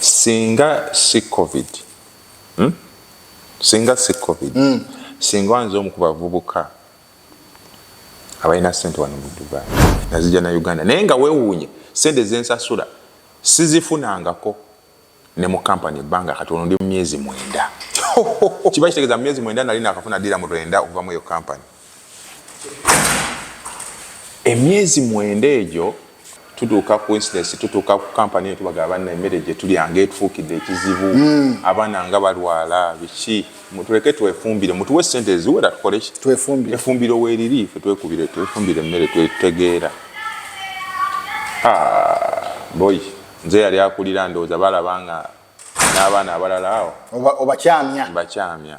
singa si covid hmm? singa si covid mm. singa nze omu ku bavubuka abalina sente wano mu dubai nazija na uganda naye nga wewuunye sente zensasula sizifunangako ne mu kampani ebbanga kati ono ndi mu myezi mwenda kiba kitegeeza mu myezi mwenda nali nakafuna dira mu lwenda okuva mu eyo kampani emyezi mwenda egyo tutuuka ku incidence tutuuka ku kampani eyo tubaga abanna emmere gye tulya nga etufuukidde ekizibu hmm. abaana nga balwala biki tuleke twefumbire mutuwe sente eziwera tukole efumbire weeriri fe twekubire twefumbire emmere twetegeera ah, boyi nze yali akulira ndowooza balaba nga n'abaana abalala awo obakyamya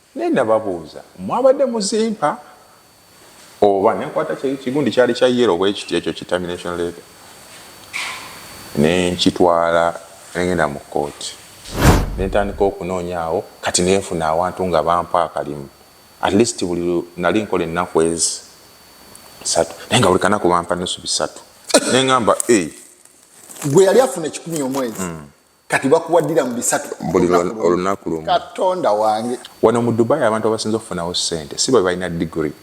Naye nababuuza mwabadde muzimpa oba nenkwata kigundi kyali kya yero bwekiti ekyo ki termination letter nenkitwala nengenda mu kooti nentandika okunoonyaawo kati nenfuna awantu nga bampa akalimu at least buli nali nkola ennaku ezi satu naye nga buli kanaku bampa nusu bisatu nengamba gwe yali afuna ekikumi omwezi mm. kati bakuwaddira mu bisatu buli olunaku lumu katonda wange wano mu dubai abantu abasinza okufunawo sente si bwe balina digiri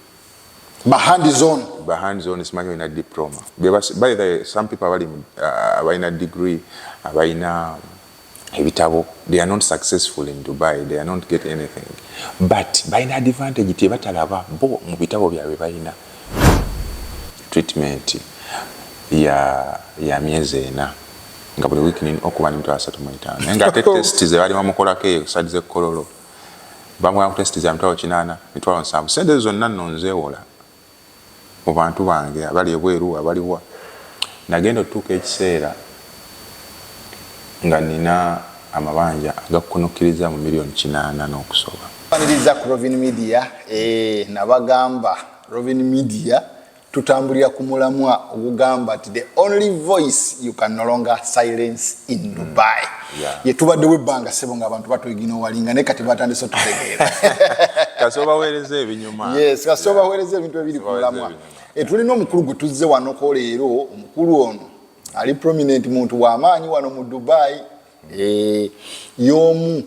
bahandi zone bahandi zone simanyi olina diploma by the some people abali uh, abalina digiri abalina ebitabo they are not successful in dubai they are not get anything but balina advantage tebatalaba bo mu bitabo byabwe balina treatment ya, ya myezi ena nga buli wiiki nina okuba nemitwalo asatu mu etaano naye nga ate testi ze baali bamukolako eyo sadi ze kololo bamugana ku testi za mitwalo kinaana mitwalo nsanvu sente ezo zonna nno nzeewola mu bantu bange abali ebweru abaliwa nagenda otutuuka ekiseera nga nina amabanja agakunukkiriza mu miliyoni kinaana n'okusoba aniriza ku rovin media eh, nabagamba rovin media tutambulira ku mulamwa ogugamba nti the only voice you can no longer silence in mm. dubai mm. yeah. yetubaddewo ebbanga sebo nga abantu batwegina owalinga naye kati batandise otutegeera kasobawereza ebinyuma yes kasobawereza yeah. ebintu ebiri ku mulamwa etulina eh, omukulu gwe tuzze wanoko leero omukulu ono ali prominent muntu wamaanyi wano mu dubai mm. e, yomu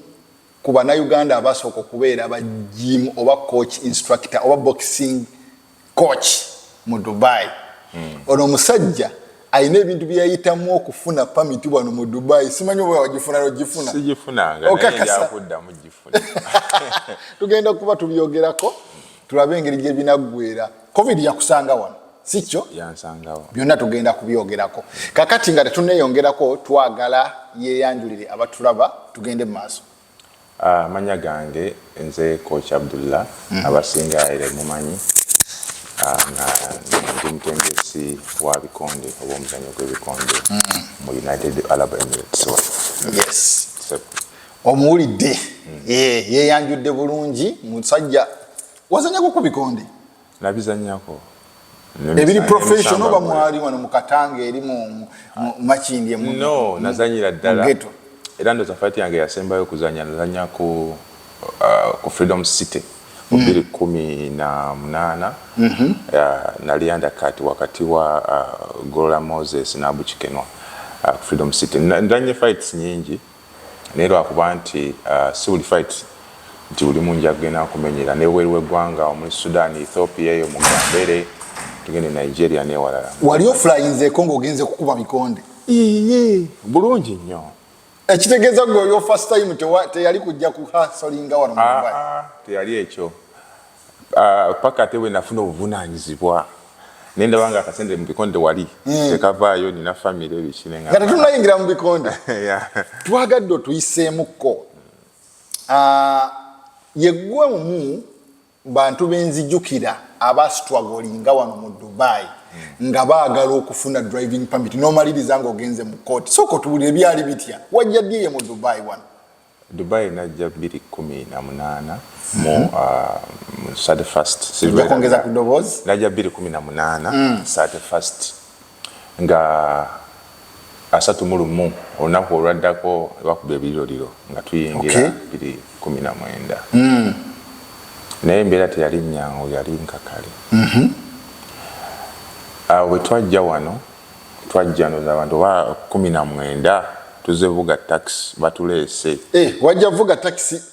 ku banauganda abasooka okubeera ba gym oba coach instructor oba boxing coach mu dubai mm. ono omusajja alina ebintu byeyayitamu okufuna pamiti wano mu dubai simanyi oba wagifuna nogifuna tugenda kuba tubyogerako tulabe engeri gyebinaggwera covid yakusanga wano sikyo byonna tugenda kubyogerako kakati nga tetuneyongerako twagala yeyanjulire abatulaba tugende mu maaso Amanya gange nze coach Abdullah mm. abasinga ere mumanyi nga ndi mutendesi wa bikonde oba omuzanyo gwebikonde mm. mu United Arab Emirates yes. so, omuwulidde mm. yeyanjudde bulungi musajja wazanyako ku bikonde nabizanyako ebiri professional oba mwali wano mu katanga eri mu makindi emu no nazanyira ddala era ndoza fight yange yasembayo kuzanya nazanya ku uh, ku freedom city mu mm. biri kumi na munana mm -hmm. uh, nali under cut wakati wa uh, gola moses nabukikenwa uh, freedom city ndanye fights nyingi naye lwakuba nti uh, si buli fight nti buli mungi agenda nkumenyera nebweru wegwanga omuli sudan ethiopia eyo mugambere tugende nigeria newalala wali ofulayinzeko ngaogenze kukuba mikonde iye bulungi nnyo ekitegeeza gwe oyo first time teyali kujja kuhasolinga wano ah, ah, teyali ekyo ah, paka ate bwe nafuna obuvunaanyizibwa naye ndaba nga akasente mu bikonde wali hmm. tekavaayo nina famire ebikinenga nga tetunayingira mu bikonde twagadde otuyiseemukko ah, yeggwe omu bantu benzijukira abasitwagolinga wano mu dubai nga baagala okufuna driving permit nomaliriza nga ogenze mu kooti sooka otubulira ebyali bitya wajja ddiye mu dubai wano Dubai najja bbiri kkumi na munaana mu mhm. uh, thirty first njakwongeza ku ddoboozi najja bbiri kkumi na munaana mm. thirty first nga asatu mu lumu olunaku olwaddako bakuba ebiriroliro nga tuyingira bbiri kkumi na mwenda mm. naye embeera teyali nyangu yali nkakale mhm. awo bwe twajja wano twajjanuza abantu oba kumi na mwenda tuze vuga takisi batuleese eh, wajja vuga takisi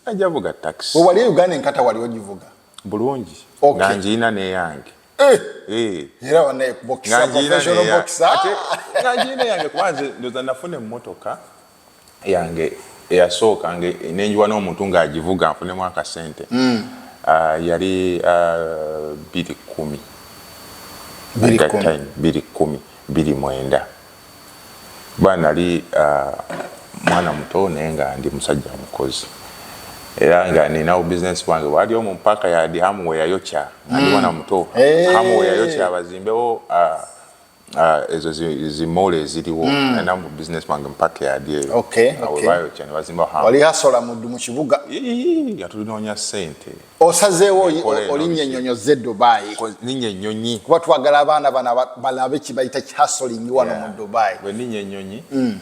ajja vuga takisi wewali uganda enkata wali ogivuga bulungi okay. nga ngiina neyange eh. eh. era wanaye kubokisa professional boxer nga ngiina yange kubanze ndoza nafuna emmotoka yange eyasooka nge nenjiwa n'omuntu ng'agivuga nfunemu akasente mm. uh, yali uh, biri kumi biri kumi biri mwenda kuba nali uh, mwana muto naye nga ndi musajja mukozi era nga ninawo bizinesi bwange wali omu mpaaka yadi hamuwe yayokya nali mm. mwana muto eh. hamuwe yayokya bazimbewo uh, Ah, ezo zimoolo eziriwo hmm. alina mu business bange mpaka yadi eyo awebayokya ne bazimba wali hasola mu kibuga nga tulinoonya ssente osazeewo olinya ennyonyo ze dubayi ninya ennyonyi kuba twagala abaana bana balabe kibayita kihasolingi wano mu dubayi bwe ninya ennyonyi hmm.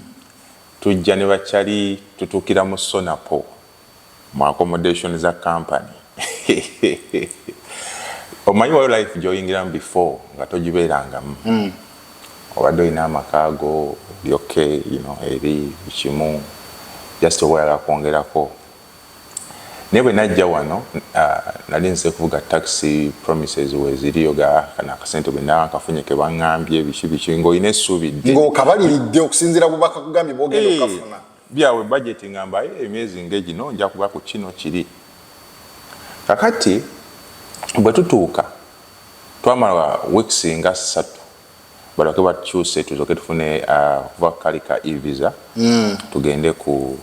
tujja ne bakyali tutuukira mu sonapo mu accommodation za company omanyi wayo life gyoyingiramu before nga togibeerangamu mm. obadde olina amaka go lyokke you know, eri kimu just oba oyala kwongerako naye bwe najja wano uh, nali nze kuvuga taxi promises weziriyo kana akasente bwe naba nkafunye ke baŋŋambye biki biki ng'olina essuubi dde ng'okabaliridde okusinziira bubaka kugambye bwogenda okafuna Byabwe budget nga mbaye emyezi nge gino nja kuba ku kino kiri. Kakati bwe tutuuka twamala weeks nga satu balyoke batukyuse tuzoke tufune kuva kali ka e-visa mm. tugende ku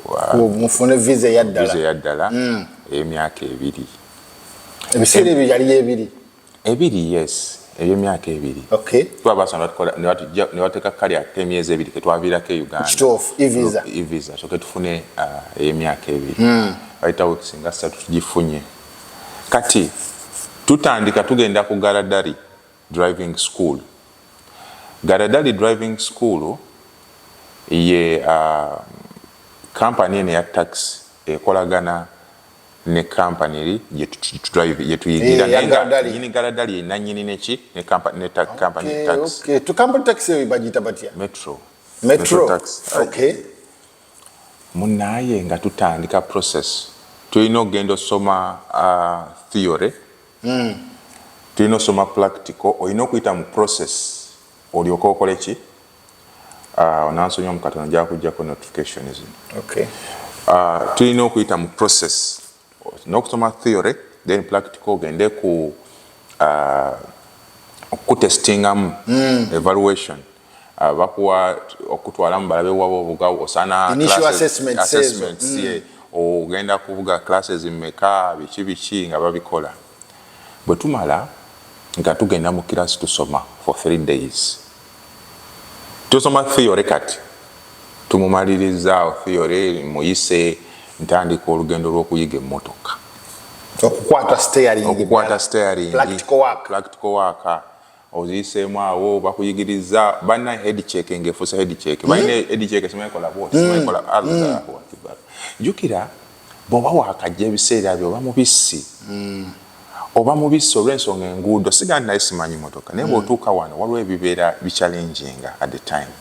mufune visa eyaddala ey'emyaka ebiri ebiseera ebyo yali ebiri ebiri yes ebyemyaka ebiri kuba basana nebateka kali ate emyezi ebiri ketwaviirako e ugandaevisa kyoke tufune uh, eyemyaka ebiri hmm. bayita weeks nga satu tugifunye kati tutandika tugenda ku garadari driving school garadari driving school ye uh, kampani eno ya taxi ekolagana ne company eri gyetudrive gyetuyigira naye nga nyini galadali ye nanyini neki ne company ne tax company okay, tax okay. to company tax eyo bagiyita batya metro metro, metro tax okay munaye nga tutandika process tulina okugenda osoma uh, theory mm. tulina osoma practical olina okuyita mu process olyoka okoleki ah, onansonyiwa mu katono gyakujjako notification zino okay. Ah, tulina okuyita mu process nokusoma theory then practical ogende ku ah, okukutestingamu mm. evaluation uh, bakuwa okutwalamu balabe waba obuga osana assessments mm. ogenda kubuga classes meka biki biki nga babikola Bwetumala nga tugenda mu class tusoma for three days tusoma theory kati tumumaliriza awo theory muyise ntandika olugendo lwokuyiga emmotoka okukwata steering okukwata steering practical work practical work oziyiseemu awo bakuyigiriza bana head check nga efuuse head check hmm? balina head check simanyi kola bwoti hmm. simanyi kola allahu hmm. akbar jukira bwoba wakajja ebiseera byo oba mubisi oba mubisi olw'ensonga enguudo sigaa naye simanyi motoka naye bwotuuka wano waliwo ebibeera bicalenjinga at the time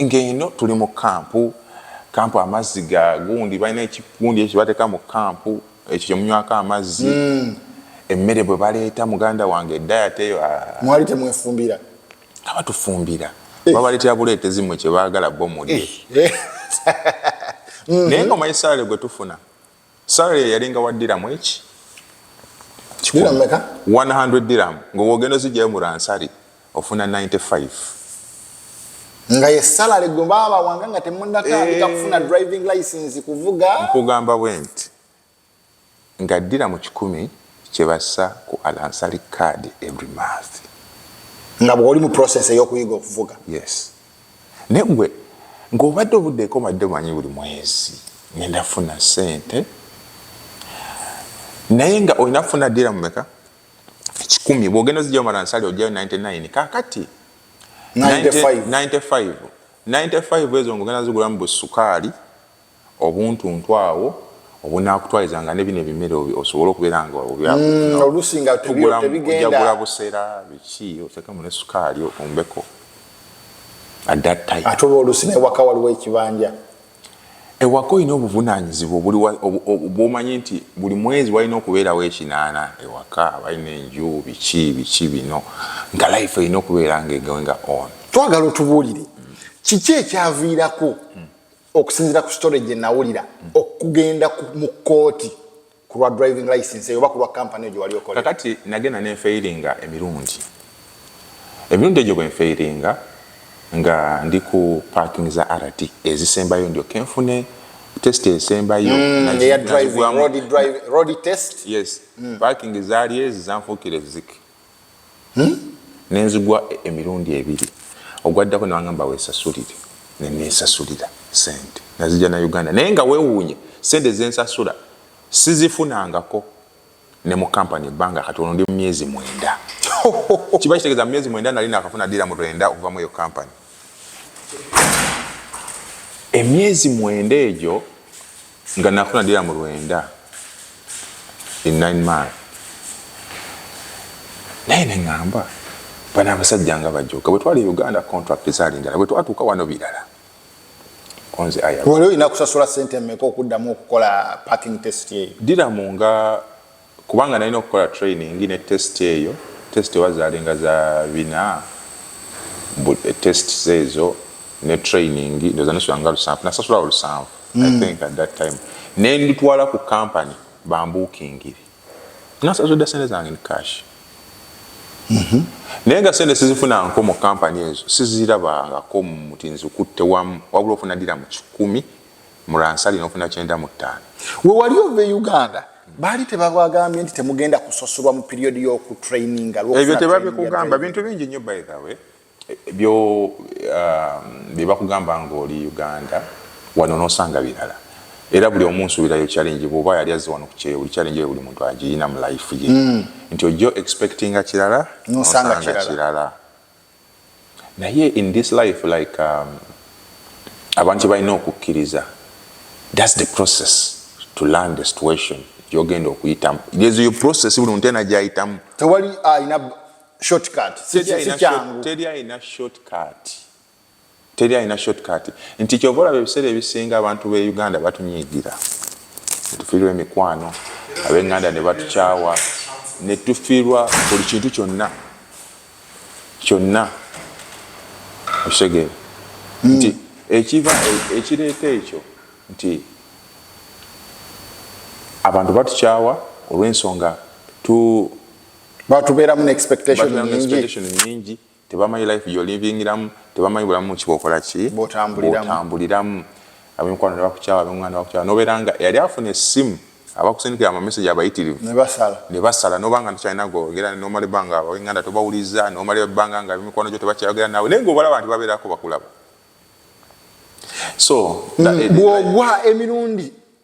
Ng'eno tuli mu kkampu, kkampu amazzi ga gundi, balina ekigundi ekyo kye bateeka mu kkampu, ekyo kye munywako amazzi. Hmm. Emmere bwe baleeta muganda wange edayati eyo. Ah. Mwali temwefumbira? Nga batufumbira. Eh. Babaleetera buleetezi mmwe kye baagala bo mulye. Eh. Eh. Naye ng'omanyi salaale gwe tufuna. Salary ye yalinga wa diramu eki? Diramu meka? 100 diramu ngo wogeno zijja mu ransari ofuna 95. Nga ye salary gwe baba wanga nga temunna ka hey. Eh. kufuna driving license kuvuga. Nkugamba went. Nga diramu 10 kyebassa ku alansari card every month. Nga bwoli mu process eyokuyiga okuvuga. Yes. naye gwe ng'obadde obudde ekomadde manyi buli mwezi ngenda funa sente naye nga olina kufuna dira mumeka kikumi bwogenda zijja omala nsali ojayo 99 kakati 95 95 ezo ngaogenda zigulamu busukaali obuntuntu awo obunakutwaliza nga ne bino ebimere osobole okubeera nga mm, oluusi nga tebigenda busera biki otekemu ne sukaali otumbeko ate oba oluusi newaka waliwo ekibanja ewaka olina obuvunanyizibwa bwomanyi nti buli mwezi walina okubeerawo ekinaana ewaka balina enju biki biki bino nga life erina okubeera nga egoinga on twagala otubuulire kiki ekyaviirako mm. okusinzira ku story gye nawulira okugenda mu kkooti ku lwa driving license eyo oba ku lwa kampani egyo wali okola kakati nagenda ne nfeyiringa emirundi emirundi egyo bwe nfeyiringa nga ndi ku parking za rt ezisembayo ndyo kenfune test esembayo mm, mm. parking zaali ezi zanfuukira ezzike ne nzigwa emirundi ebiri, ogwaddako ne bangamba weesasulire ne neesasulira ssente nazigya na Uganda naye nga weewuunye ssente ze nsasula sizifunangako ne mu kampani ebbanga kati ono ndi mu myezi mwenda. Kiba kitegeeza mu myezi mwenda nali naakafuna ddirhamu lwenda okuva mu eyo kampani. emyezi mwenda egyo nga nakuna dira mu lwenda in nine month naye neŋamba bana abasajja nga bajoka bwe twali e uganda contract zaali ndala bwe twatuuka wano birala wali olina kusasula sente mmeka okuddamu okukola parking test eyo diramu nga kubanga nalina okukola training ne test eyo test oba zalinga za bina but eh, test zezo ne training ndoza nisula nga lusanvu nasasula olusanvu mm. i think at that time ne nditwala ku company bambukingire nasasudde sente zange ni cash mm -hmm. naye nga sente sizifuna nko mu company ezo sizirabangako muti nzikutte wamu wabula ofuna dira mu kikumi muransali nofuna kyenda mu ttaano wewali ova e uganda baali tebabagambye nti temugenda kusosolwa mu period yoku traininga ebyo tebabikugamba bintu bingi nnyo by the way byo um, byebakugamba ngaoli uganda wano nosanga birala era buli omu nsubirayo challenge bwoba yali azze wano kukyeyo buli challenge eyo buli muntu agiyina mu life ye mm. nti ojjo expectinga kirala nosanga kirala Naye in this life like um, abantu kyebalina okukkiriza thats the process to learn the situation gyogenda okuyitamu there's your process buli muntu ena gyayitamu tewali alina shortcut sikyangu teri alina shortcut Teri alina short cut nti kyova olaba ebiseera ebisinga abantu be Uganda batunyiigira netufiirwa emikwano abenganda ne batukyawa netufiirwa buli kintu kyonna kyonna okitegeera hmm. nti ekiva e, ekireeta ekyo nti abantu batukyawa olw'ensonga tu batubeeramu ne expectation nyingi Tebamanyi life gyolivingiramu, tebamanyi bulamu muki bwokola ki bwotambuliramu. Abemikwano nebakukyawa, abenganda bakukyawa, nobeera nga eyali afuna essimu abakusindikira amamesegi abayitirivu nebasala noba nga tokyalina gogera nomala ebbanga abawenganda tobawuliza nomala ebbanga nga abemikwano gyo tebakyayogera nawe naye nga obalaba nti babeerako bakulaba so mm, eh, bwogwa emirundi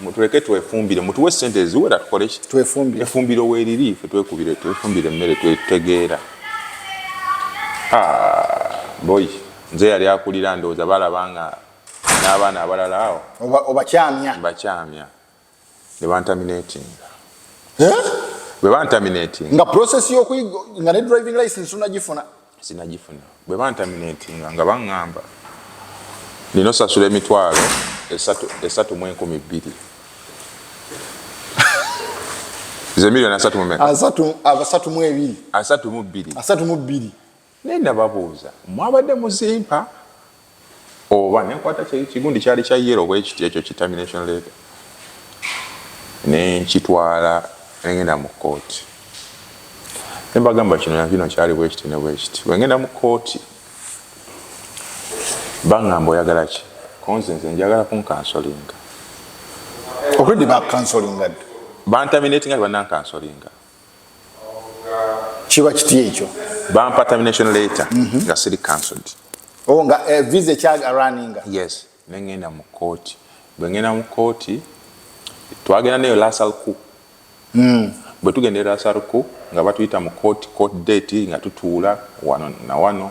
mutuleke twefumbire mutuwe sente eziwera tukole ki twefumbire efumbiro weriri fe twekubire twefumbire emmere twetegeera ah, boy nze yali akulira ndowooza balaba nga n'abaana abalala awo obakyamya bakyamya ne bantaminatinga bwe bantaminatinga nga process yokuyiga nga ne driving license unagifuna sinagifuna bwe bantaminatinga nga baŋŋamba nina osasula emitwalo esatu mu enkumi bbiri zemiliyoni asatu mumekasatu mu ebiri asatu mu bbiri asatu mu bbiri naye nababuuza mwabadde muzimpa oba nenkwata kigundi kyali kya yero bwekiti ekyo kitamination leeta nenkitwala engenda mu kooti nembagamba kino nakino kyali bwekiti ne bwekiti bwengenda mu kooti bangamba oyagala ki konze nze njagala kunkansolinga okredi bakansolinga bantaminatinga tebanankansolinga kiba kiti ekyo bampa termination letter mm -hmm. nga siri cancelled oh nga uh, visa ekyaga running yes nengenda mu kooti bwe ngenda mu kooti twagenda neyo lasalku mm. bwe tugenda e lasalku nga batuyita mu kooti court date nga tutuula wano na wano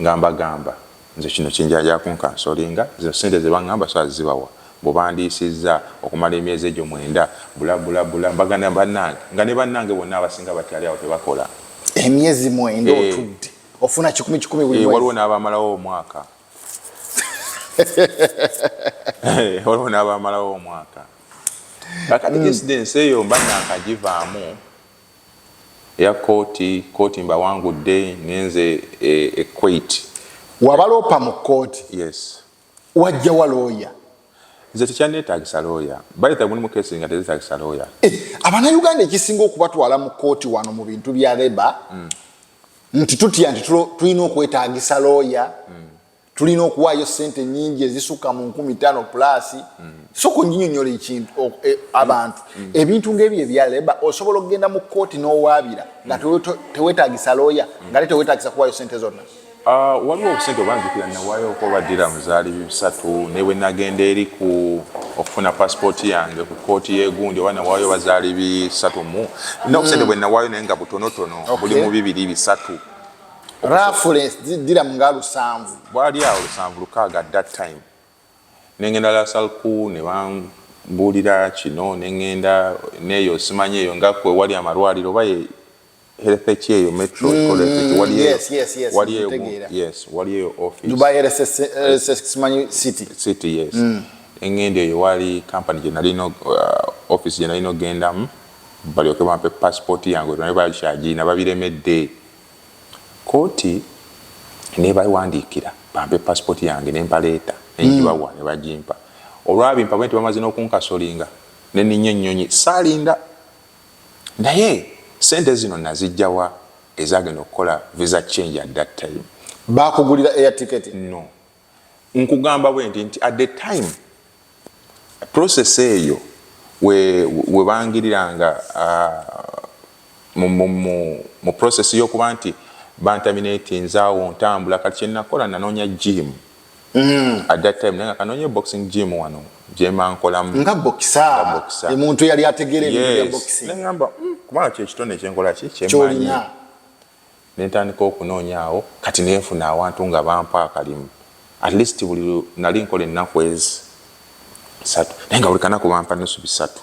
nga mbagamba Nze kino kinjaja kunkansolinga zino sente zebangamba so azibawa mbu bandiisiza okumala emyezi egyo mwenda bula bula bula mbagana banange nga ne banange bonna abasinga bakyali awo tebakola emyezi mwenda eh. otudde ofuna kikumi kikumi buli eh, waliwo n'abamalawo omwaka eh, waliwo n'abamalawo omwaka kakati mm. ensi eyo mba nankagivaamu Eya kkooti, kkooti mbawangudde, ngenze e, e Kuwait. Wabaloopa mu kkooti? Yes. Wajjawa looya? nze tekyanneetaagisa looya bayita mulimu keesi nga tezeetaagisa looya eh, abanauganda ekisinga okubatwala mu kkooti wano mu bintu bya reba mm. nti tutya nti tulina okwetaagisa looya mm. tulina okuwaayo sente nyingi ezisukka mu nkumi tano plus mm. soka onyinyonyola ekintu e, abantu mm. ebintu ngaebyo ebya leba osobola okugenda mu kooti n'owaabira nga mm. tewetagisa looya mm. nga te tewetagisa kuwaayo sente zonna ah, waliwo obusente obanjukira nawaayo okwobaddira muzaali bisatu ne bwe nagenda eri ku okufuna pasipooti yange ku kooti yegundi oba nawaayo bazaali bisatu mu nobusente bwe nawaayo naye nga butonotono buli mu bibiri bisatu reference dira mu nga lusanvu bwali awo lusanvu lukaaga at that time nengenda lasalku ne bambuulira kino nengenda neeyo simanyi eyo nga kwe wali amalwaliro oba ye health ki eyo metro mm, ekolekiki wali eyo yes, yes, yes, wali eyo yes wali eyo office dubai health eh, simanyi city city yes mm. engenda eyo wali company gye nali no uh, office gye nali nogendamu balyoke bampe passport yange naye bakyagina babiremedde Kkooti n'ebawandiikira bampe passport yange ne mbaleeta ne ngibawa ne bagimpa. Olwabimpa bwe nti bamaze n'okunkasolinga ne nninnya ennyonyi saalinda. Naye ssente zino nnaziggya wa ezaagenda okukola visa change at that time? Baakugulira air ticket? No. nkugamba bwendi nti at the time process eyo webangiriranga we uh, mu process yokuba nti bantaminati nzaawo ntambula kati kyenakola nanoonya gym mm. at that time nanga kanoonya boxing gym wano gyemankolamu nga boxer omuntu yali ategeera ebintu bya boxing nengamba mm, kubanga kyekitone kyenkola ki kyemanyi ne ntandika okunoonya awo kati ne nfuna awantu nga bampa akalimu at least buli nali nkola ennaku ezi satu naye nga buli kanaku bampa nusu bisatu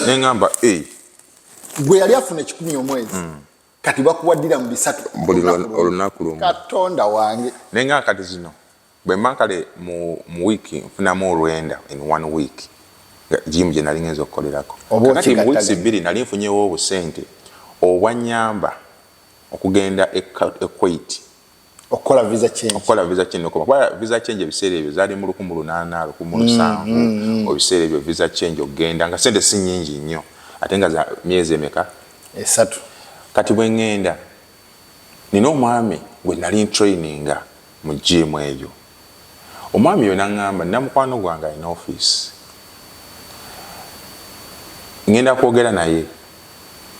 ne ngamba eh. gwe yali afuna ekikumi omwezi mm. kati bakuwaddira mu bisatu buli olunaku lumu katonda wange naye nga kati zino bwe mba kale mu mu wiiki nfunamu olwenda in one week nga jiimu gye nali ngenza okukolerako kakati mu wiiki bbiri nali nfunyewo obusente obwanyamba okugenda equate okukola visa change okukola visa change okuba kwa visa change ebiseera ebyo zali mu 1800 17 mm, mm, mm. obiseera ebyo visa change okugenda nga sente si nyingi nnyo ate nga za myezi emeka esatu kati bwe ngenda Nnina omwami gwe nnali ntureyininga mu jjiimu eyo. Omwami oyo n'aŋŋamba nnina mukwano gwange alina ofiisi. Ŋŋenda kwogera naye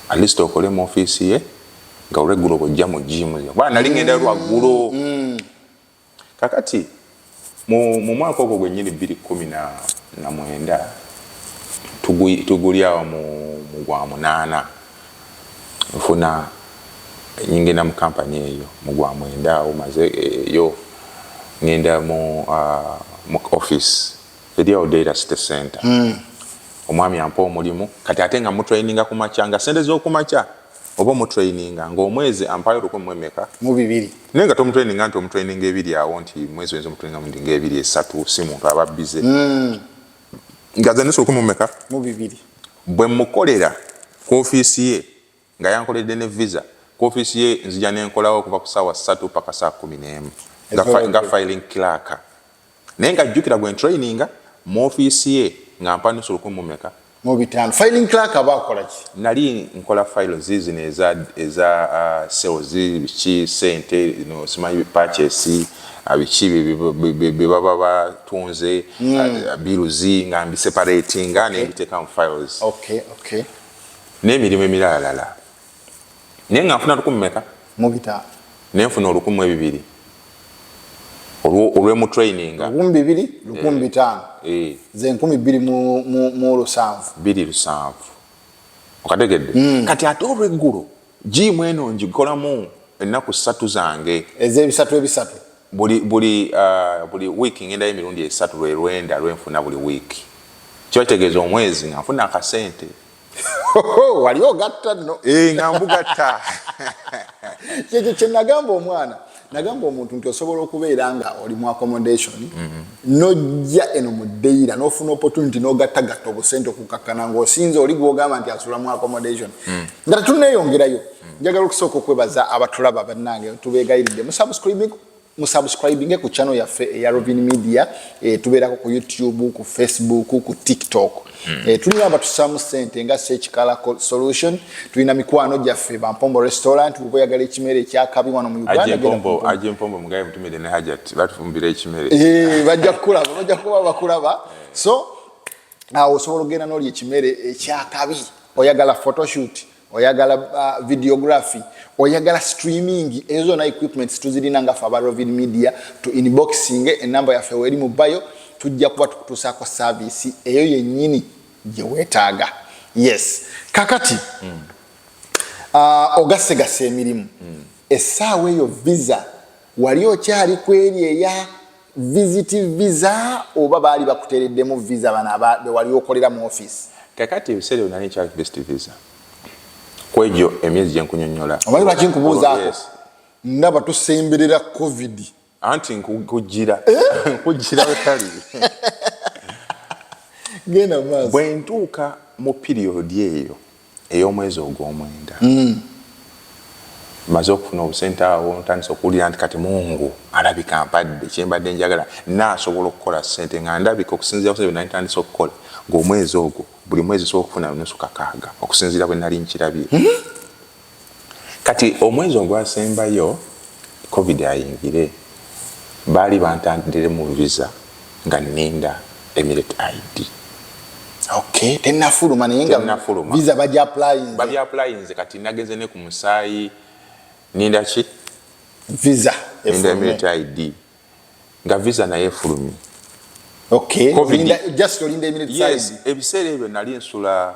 at least okole mu ofiisi ye nga olweggulo bw'ojja mu jjiimu. Kubanga nnali ŋŋendayo lwaggulo. Kakati mu mu mwaka ogwo gwennyini bbiri kkumi na na mwenda tugu tuguli awo mu mu gwa munaana nfuna ngenda mu kampani eyo mu gwa mwenda awo maze eyo ngenda mu uh, mu office eri awo Deira City Center mm. omwami ampa omulimu kati ate nga mutraininga ku makya nga sente z'oku makya oba omutraininga ngaomwezi ampayo lukumi mwemeka mubibiri naye nga tomutraininga nti omutraininga ebiri awo nti mwezi wenza omutraininga mundi nga ebiri esatu si muntu aba bize mm. nga zanisa lukumi mumeka mubibiri bwe mukolera ku ofiisi ye nga yankoledde ne visa ku ofiisi ye nzija nenkolawo okuva ku saawa satu paka saa kumi n'emu nga filing clerk Naye nga jjukira gwe ntraininga mu ofiisi ye nga mpa nusu lukumi mu meka? Mu bitaano. Filing clerk aba akola ki? Nali nkola fayilo ziizino eza eza uh, sales biki sente no simanyi purchase uh, biki bye baba batunze mm. uh, biruzi nga mbiseparatinga okay. ne mbiteeka mu files okay, okay. n'emirimu emiralala naye nga nfuna lukumi meka mubita naye nfuna olukumi ebibiri olwemutraininga lukumi bibiri lukumi eh. bitaano eh. ze nkumi bbiri mu lusanvu biri lusanvu okategedde hmm. kati ate olweggulo jiimu eno ngikolamu ennaku ssatu zange ezebisatu ebisatu buli buli uh, buli wiiki ngendayo emirundi esatu lwe lwenda lwenfuna buli wiiki kiba kitegeeza omwezi nga nfuna akasente wali ogatta no eh, nga mbugatta kyekyo kyenagamba omwana nagamba omuntu nti osobola okubeera nga oli mu accommodation mm-hmm. nojja eno mu dayira nofuna opportunity nogattagatta obusente okukakkana ngaosinze oli gwogamba nti asula mu accommodation mm. nga tetuneyongerayo mm. njagala okusooka okwebaza abatulaba bannange tubegayiridde musubscribing musubscribinge ku channel yaffe eya Robin Media e, tubeerako ku YouTube ku Facebook ku TikTok mm. e, tulina abatusaamu sente nga sekikala solution tulina mikwano gyaffe bampombo restaurant uba oyagala ekimere ekyakabi wano mu Uganda bajja kukulaba bajja kuba bakulaba so awo osobola okugenda nolya ekimere ekyakabi oyagala photoshoot oyagala uh, videography oyagala streaming ezo zona equipments tuzirina nga fe aba rovid media to inboxing enamba yaffe weri mu bayo tujja kuba tukutuusaako saavisi eyo yennyini gye weetaaga yes kakati mm. uh, ogasegasa emirimu mm. essaawa eyo visa wali okyali ku eri eya visiti visa oba baali bakutereddemu visa bano bewali okolera mu office kakati ebiseera byona nekyali visiti visa kwegyo emyezi gyenkunyonyola omanyi lwaki nkubuuzaako oh, ndaba tusemberera covid anti nkujira eh? nkujira wetali genda maaso bwentuuka mu piriyodi eyo ey'omwezi ogw'omwenda mmaze okufuna obusente awo ntandise okuwulira nti kati Mungu alabika ampadde kye mbadde njagala. Nnaasobola okukola ssente nga ndabika okusinziira ku ssente bye nali ntandise okukola ng'omwezi ogwo buli mwezi nsobola okufuna nusu kakaaga okusinziira bwe nali nkirabye. kati omwezi ogwasembayo covid ayingire baali bantandiremu visa nga ninda emirate id okay tenafuluma naye nga tenafuluma visa baji applying baji applying nze kati nagenze ne ku musaayi ninda ki visa ninda emirate id nga visa naye efulumye okay covid ninda just olinda emirate yes ebiseera ebyo nali nsula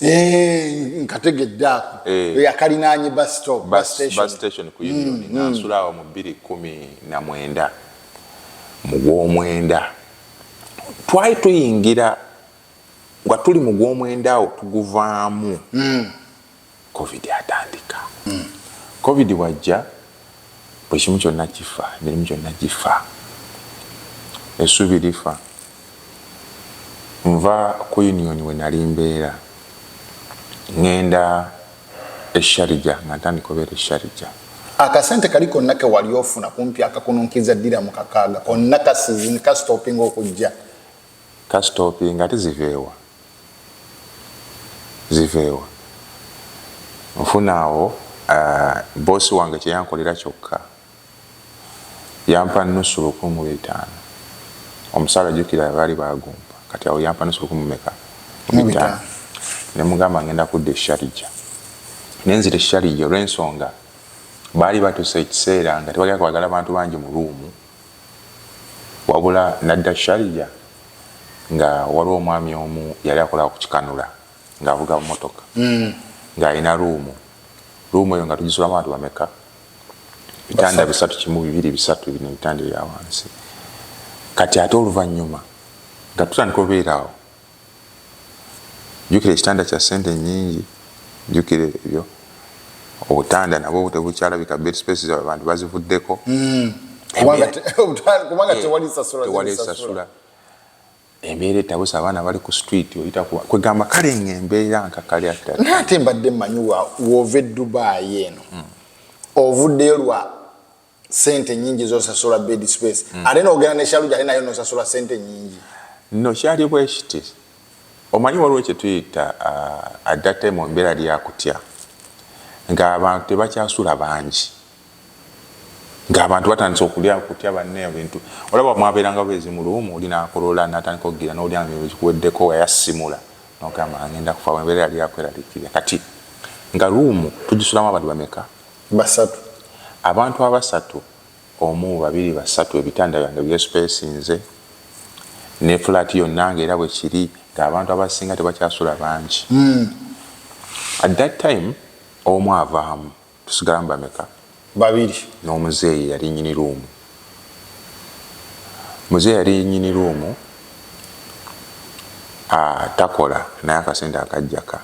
Eh, nkategedde ako eh. yakalinaanye bus station ku union mm, nga mm. nsula awo mu bbiri kumi na mwenda mu gwomwenda twali tuyingira nga tuli mu gwomwenda awo tuguvaamu mm. covid atandika covid wajja Buli kimu kyonna kifa, emirimu gyonna gifa. Essuubi lifa. Nva ku Union we nali mbeera, ŋŋenda e Sharjah nga ntandika obeera e Sharjah. Akasente kali konna ke wali ofuna kumpi akakununkiriza ddiramu kakaaga konna kasitoopinga okujja. Ka stoppinge ate ziveewa ziveewa nfuna awo ahh boss wange kyeyankolera kyokka yampa nusu lukumi mu bitaano omusaala jukira baali bagumpa kati awo yampa nusu lukumi mumeka mu bitaano nemugamba ngenda kudda e Sharija nenzira e Sharija olwensonga baali batuse ekiseera nga tebagala kwagala bantu bangi mu room wabula nadda Sharjah nga waliwo omwami omu yali akola ku kikanula ng'avuga mmotoka mm. ng'alina ruumu ruumu eyo nga tugisulamu abantu bameka bitanda bisatu kimu bibiri bisatu bino ebitanda ebya wansi kati ate oluvannyuma nga tutandika obeeraawo jukira ekitanda kya sente nyingi jukira ebyo obutanda nabwo tebukyalabika bed space za abantu bazivuddeko hmm. kubanga eh, tewali sasula embeera etabusa abaana bali ku street kwegamba kale nga embeera nkakaliate mbadde manyi wova edubayi eno hmm. ovuddeyo lwa sente nyingi zosasula bed space mm. ate nogenda ne shaluja ate nayo nosasula sente nyingi no kyali bwekiti omanyi waliwo kyetuyita uh, at that time ombeera lyakutya ng'abantu tebakyasula bangi ng'abantu batandise okulya kutya banne ebintu olaba mwabeerangawo ezimuluumu oli nakolola natandika okugira n'olya kuweddeko wayasimula nogamba ngenda kufa embeera yali yakweralikirira kati nga luumu tugisulamu abantu bameka Basatu, abantu abasatu omu, babiri, basatu, ebitanda byange byespacinze ne flat yonna nga era bwekiri nga abantu abasinga tebakyasula bangi mm. at that time omu avaamu tusigalamu bameka babiri n'omuzeeyi yali nyini ruumu muzeeyi yali nyini ruumu ah, takola naye akasente akajjaka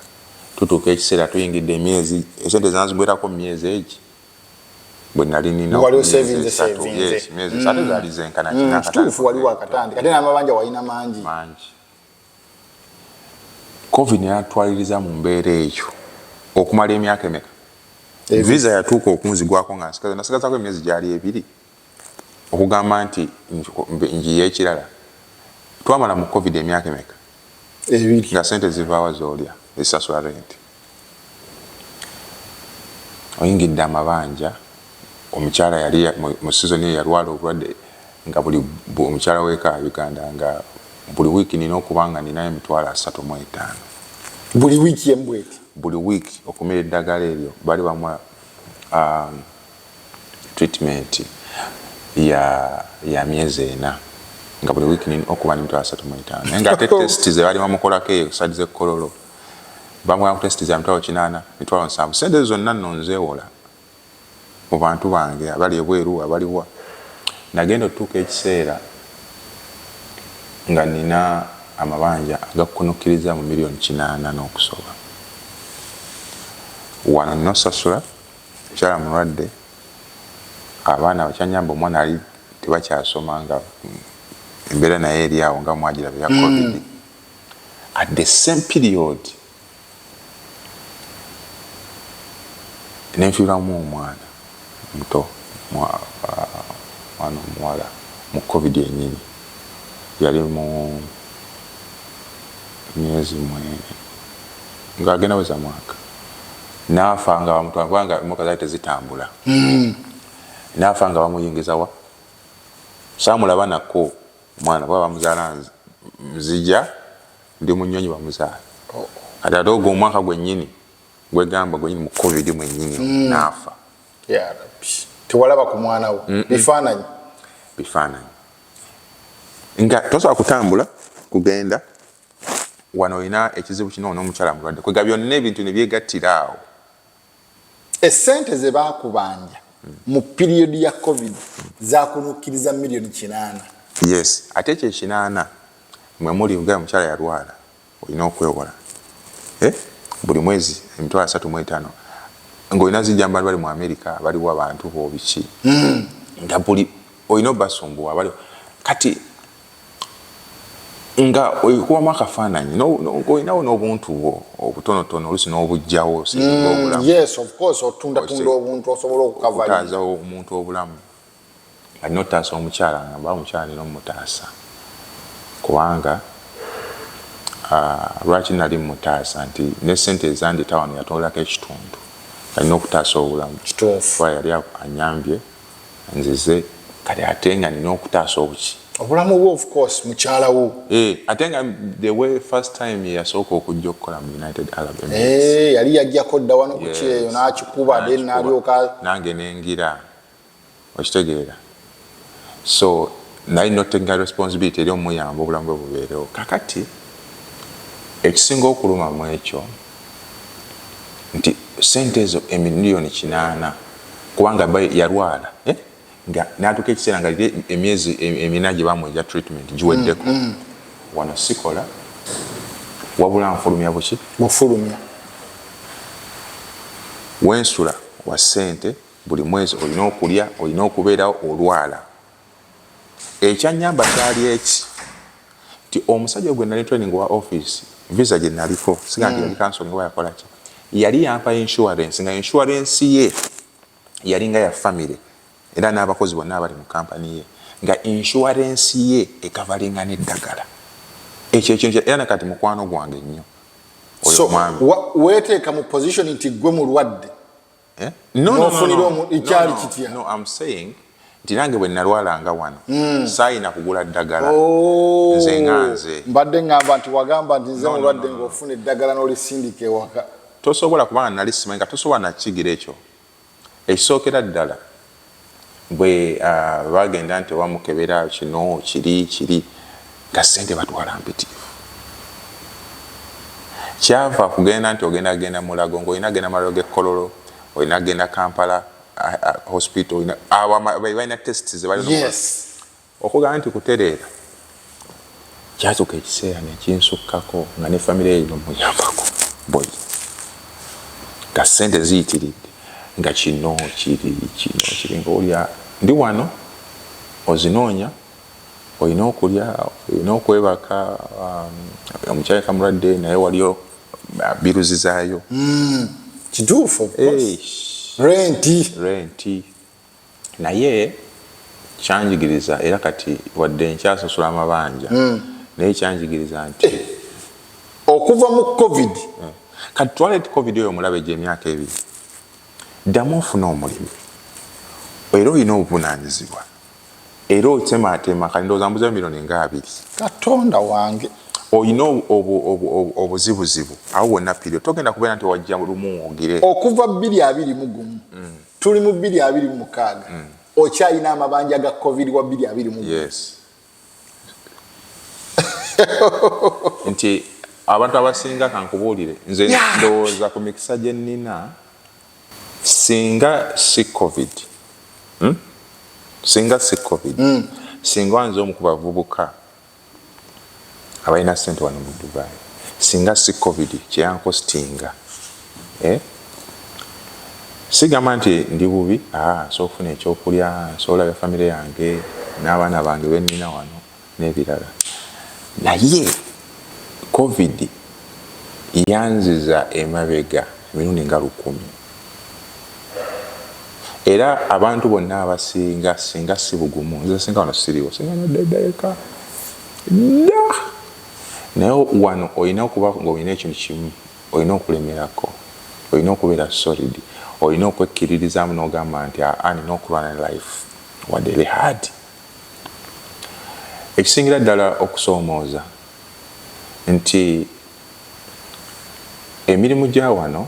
Tutuuka ekiseera tuyingidde emyezi esente zanzigwerako mumyezi egi bwenali nina wali osevinze sevinze myezi esatu mm. zali zenkana mm, kituufu wali wakatandi kate namabanja walina mangi mangi covid natwaliriza mu mbeera eyo okumala emyaka emeka visa yatuuka okunzigwako nga nsigaza nasigazako emyezi gyali ebiri okugamba nti njiye ekirala twamala mu covid emyaka emeka ebiri nga sente zivaawa zolya ezisasula renti oyingidde amabanja omukyala yali mu sizoni eyo yalwala obulwadde nga buli omukyala weka uganda nga buli wiiki nina okuba nga ninayo emitwalo asatu mu etaano buli wiiki embweti buli wiiki okumira eddagala eryo bali bamwa um, treatment ya ya myezi ena nga buli week nina okuba nemitwalo asatu mu etaano naye nga ate test ze baali bamukolako eyo side ze kololo bamugamba ku test za mitwalo kinaana mitwalo nsanvu sente ezo zonna nno nzeewola mu bantu bange abali ebweru abaliwa nagenda otutuuka ekiseera nga nina amabanja agakunukkiriza mu miliyoni kinaana n'okusoba wano nosasula Mukyala mulwadde abaana bakyanyamba omwana ali tebakyasoma nga embeera naye eri awo nga mwagira bya hmm. covid mm. at the same period nenfiiramu omwana muto mwana omuwala mu covid yenyini yali mu myezi mwe ng'agenda weza mwaka naafa nga bamutwala kubanga emoka zali tezitambula hmm. naafa nga bamuyingiza wa saamulaba nako omwana baba bamuzaala nzija ndi munyonyi bamuzaala oh. kati ate ogwo omwaka gwennyini gwegamba gwennyini mu covid mwennyini hmm. naafa tewalaba ku mwana wo bifaananyi bifaananyi nga tosobola kutambula kugenda wano olina ekizibu kino n'omukyala mulwadde kwega byonna ebintu ne byegattira awo essente ze baakubanja mu piriyodi ya covid zaakunukkiriza miliyoni kinaana yes ate ekyo ekinaana mwe muli nga omukyala yalwala olina okwewola eh? buli mwezi emitwalo asatu mu etaano ng'olina zijja mu bantu bali mu amerika baliwo abantu boobiki hmm. nga buli olina obasumbuwa baliwo kati nga oyikubamu akafaananyi olinawo n'obuntu bwo obutonotono olusi n'obujjawo singa obulamu mm, omuntu obulamu alina otaasa omukyala nga mba omukyala nina omutaasa kubanga lwaki nali mutaasa nti ne sente ezandita wano yatolako ekitundu alina okutaasa obulamu yali anyambye nzize kati ate nga nina okutaasa obuki obulamu bwe of course mukyala wo eh, ate nga the way first time yeyasooka okujja okukola mu united arab emirates eh, yali yajjako dda wano ku kyeyo n'akikuba de nalyoka nange nengira okitegeera so naye notenga responsibility eri omuyamba obulamu bwe bubeerewo kakati ekisinga okuluma mu ekyo nti sente ezo emiliyoni kinaana kubanga bba yalwala eh, nga n'atuuka ekiseera nga liri emyezi emina gye bamuwa egya treatment giweddeko mm, mm. wano sikola wabula nfulumya buki mufulumya wensula wa sente buli mwezi olina okulya olina okubeerawo olwala ekyanyamba kyali eki nti omusajja gwe nali training wa office visa gye naliko siga nti mm. yali kansoni oba yakola ki yali yampa insurance nga insurance ye yali nga ya family era n'abakozi bonna abali mu kampani ye nga insurance ye ekavalinga n'eddagala ekyo ekintu era nakati mukwano gwange nnyo oyo omwami weteeka mu position nti gwe mulwadde Eh? No, no, no, no, no, no, no, I'm saying nti nange bwe nalwalanga wano mm. saayina kugula ddagala oh. nze nga nze mbadde ngamba nti wagamba nti nze mulwadde ngaofuna eddagala n'olisindika ewaka tosobola kubanga nali simanyi nga tosobola nakigira ekyo ekisookera ddala bwe bagenda nti oba mukebera kino kiri kiri nga sente batwala mpitirivu kyava kugenda nti ogenda genda mulago ngaolina genda malago gekololo olina genda kampala hospital abalina test zebalina Okugamba nti kutereera kyatuuka ekiseera ne kinsukkako nga ne famire ye muyambako boyi nga ssente ziyitiridde nga kino kiri kino kiri nga olya ndi wano ozinoonya olina okulya olina okwebaka um, omukyala kamulwadde naye waliyo uh, biruzizaayo hmm, kituufu renti renti Naye kyanjigiriza era kati wadde nkyasasula amabanja hmm. naye kyanjigiriza nti eh, okuva mu covid eh, kati twala ti covid oyo omulabe gye emyaka ebiri ddamu ofuna omulimu era olina obuvunanyizibwa era otemaatema kati ndowooza mbuzayo mironi nga abiri katonda wange olina obuzibuzibu awo wonna pirio togenda kubeera nti wajja lumu ogire okuva bbiri abiri mugumu hmm. tuli mu bbiri abiri mu mukaaga mm. okyalina amabanja ga covid wa bbiri abiri mu yes. nti abantu abasinga kankubuulire nze ndowooza ku mikisa gye nnina singa si covid hmm? singa si covid mm. singa nze omu ku bavubuka abalina sente wano mu dubai singa si covid kyeyankositinga eh? sigamba nti ndi bubi ah, nsobola okufuna ekyokulya nsobola olabya famire yange n'abaana bange benina wano n'ebirala naye covid yanziza emabega emirundi nga lukumi era abantu bonna abasinga singa si bugumu nze singa wano siriwo singa nadeddaeka dda naye wano olina okuba nga olina ekintu kimu olina okulemerako olina okubeera solid olina okwekkiririzaamu n'ogamba nti aa nina okulwana ne life wadde ebe hard ekisingira ddala okusoomooza nti emirimu gya wano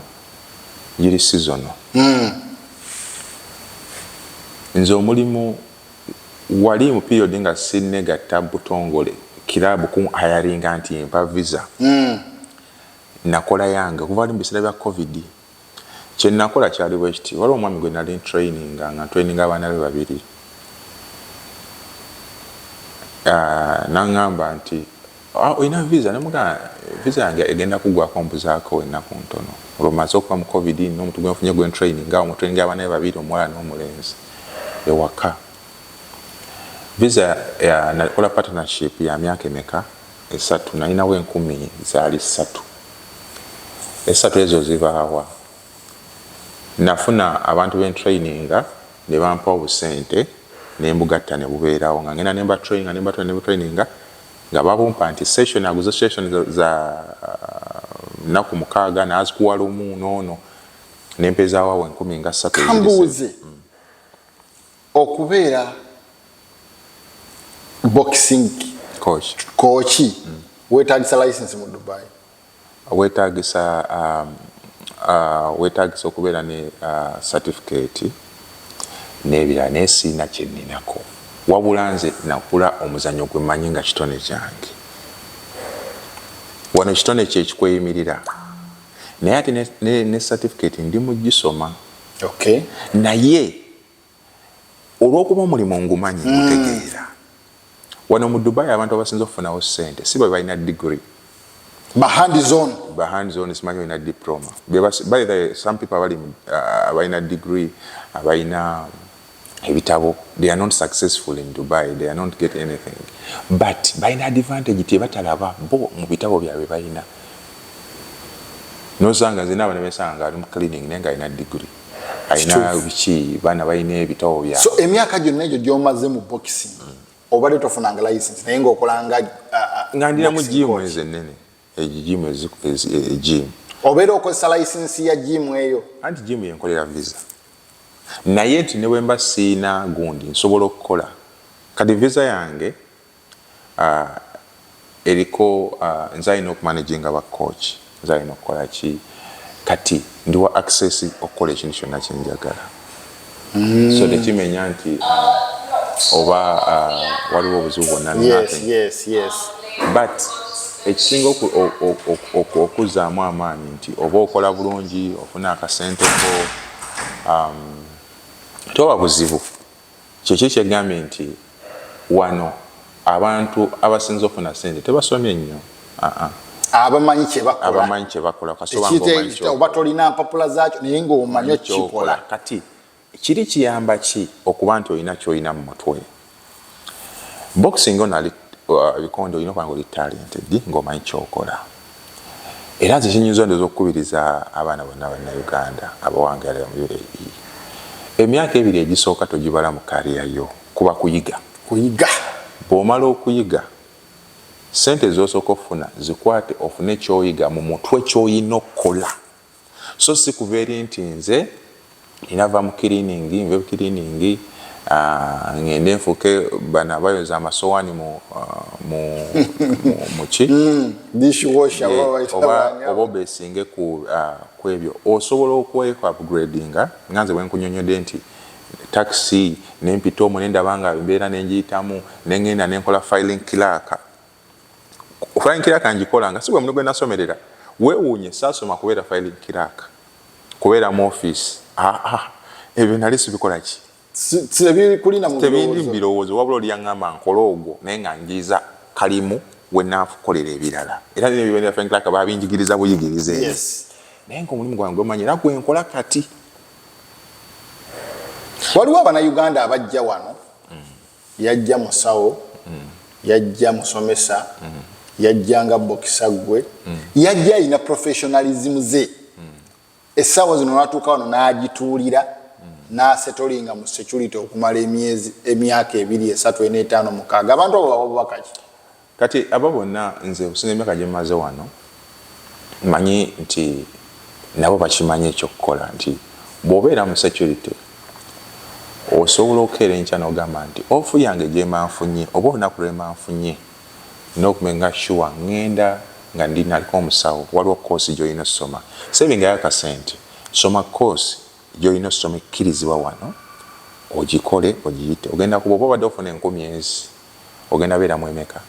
giri sizono. Hmm. Nze omulimu wali mu period nga sinnegatta butongole kiraabu kunhayaringa nti mpa visa. Hmm. Nakola yange kuva wali mu biseera bya covid. Kye nnakola kyali bwe kiti, waliwo omwami gwe nnali ntuleyininga, nga ntuleyininga abaana be babiri. N'aŋŋamba nti, olina viza? Ne mugamba, viza yange egenda kuggwaako mbuzaako ennaku ntono. Olwo mmaze okuva mu Covid, nina omuntu gwe nfunye gwe ntuleyininga, awo mwe tuleyiningira abaana be babiri, omuwala n'omulenzi, ewaka. Viza ya, nnakola partnership ya myaka emeka? esatu nalinawo enkumi zaali satu esatu ezo zibaawa nafuna abantu bentraininga nebampa obusente nembugatta nebubeerawo nga ngenda nembatrainga nembatula nebutraininga nga babumpa nti session aguze session za nnaku mukaaga nazikuwa lumu noono nempezaawo awo enkumi nga satu kambuuze okubeera boxing kooki mm. wetagisa license mu dubai wetagisa um, uh, wetagisa okubeera ne uh, certificate nebirala naye siina kyeninako wabula nze nakula omuzanyo gwe manyi nga kitone kyange wano kitone kyekikweyimirira naye ate ne certificate ndi mugisoma naye olwokuba omulimu ngumanyi mm. ngutegeera wano mu dubai abantu abasinza okufunawo sente si bwe balina digiri simanyi olina diploma some people abali uh, abalina digiri abalina ebitabo they are not successful in dubai they are not get anything but balina advantage tebatalaba bo mu bitabo byabwe balina nosanga nzina abana besanga ali mu cleaning naye nga alina digiri alina biki baana balina ebitabo bya so emyaka gyonna egyo gyomaze mu boxing mm. obadde tofunanga license naye ngaokolanga uh, uh, nga ndinamu jimu ezo ennene egyo jimu ejimu e, obeera okozesa license ya jimu eyo anti jimu yenkolera visa naye nti ne bwemba siina gundi nsobola okukola kati visa yange eriko nze ayina oku managinga ba coach nze ayina okukola ki kati ndiwa access okukola ekintu kyonna kyenjagala so tekimenya nti oba waliwo obuzibu bwonna but ekisinga okuzaamu amaanyi nti oba okola bulungi ofuna akasente ko um, toba buzibu Kiki ekyegambye nti wano abantu abasinze ofuna sente tebasomye nnyo aa. Abamanyi kyebakola. Abamanyi kyebakola kasita oba nga omanyi kyokola. Oba tolina mpapula zakyo naye nga omanyi okikola. Kati kiri kiyamba ki okuba nti olina kyolina mu mutwe. Boxing ono ali uh, bikonde olina okuba nga oli talented nga omanyi kyokola. Era nze kinyinza ondoza okukubiriza abaana bonna banna Uganda abawangaala mu UAE emyaka ebiri egisooka togibala mu career yo kuba kuyiga kuyiga bwomala okuyiga sente zosooka ofuna zikwate ofune kyoyiga mu mutwe kyoyina okukola. so si kuva eri nti nze nina va mu kiriiningi nve mu kiriiningi ah, ngende nfuuke bano abayoza amasowaani mu ah, ki hmm, oba obesinge ah, ku ebyo osobola okweku upgradinga nga nze bwenkunyonyode nti takisi nempita omu nendaba nga embeera nengiyitamu nengenda nenkola filing clerk flying clerk ngikolanga si gwe mulimu gwe nasomerera weewuunye saasoma kubeera flying clerk kubeera mu office ah, ah, ebyo nali sibikola ki tebindi mubirowoozo wabula oli yaŋŋamba nkole ogwo naye nga njiiza kalimu we naakukolera ebirala era nyo bibendera flying clerk babinjigiriza buyigiriza eyo naye nga omulimu gwange gwemanyi era gwe nkola kati waliwo abanauganda abajja wano Yajja musawo, yajja musomesa, yajja nga bokisa gwe, yajja alina professionalism ze. Essaawa zino natuuka wano n'agituulira n'asetolinga mu security okumala emyezi emyaka ebiri esatu ena etaano mukaaga. Abantu abo bawa bubaka ki? Kati abo bonna nze okusinza emyaka gye mmaze wano, mmanyi nti nabo bakimanyi eky'okukola nti bw'obeera mu securite osobola okukeera enkya n'ogamba nti off yange gy'emba nfunye oba olunaku lw'emba nfunye nnina okumenga sure ng'enda nga ndi naliko omusawo waliwo kkoosi gy'olina ossoma sevingayo akasente soma kkoosi gy'olina ossoma ekkirizibwa wano ogikole ogiyite ogenda kuba oba obadde ofuna enkumi ezi. ogenda beera mu emeka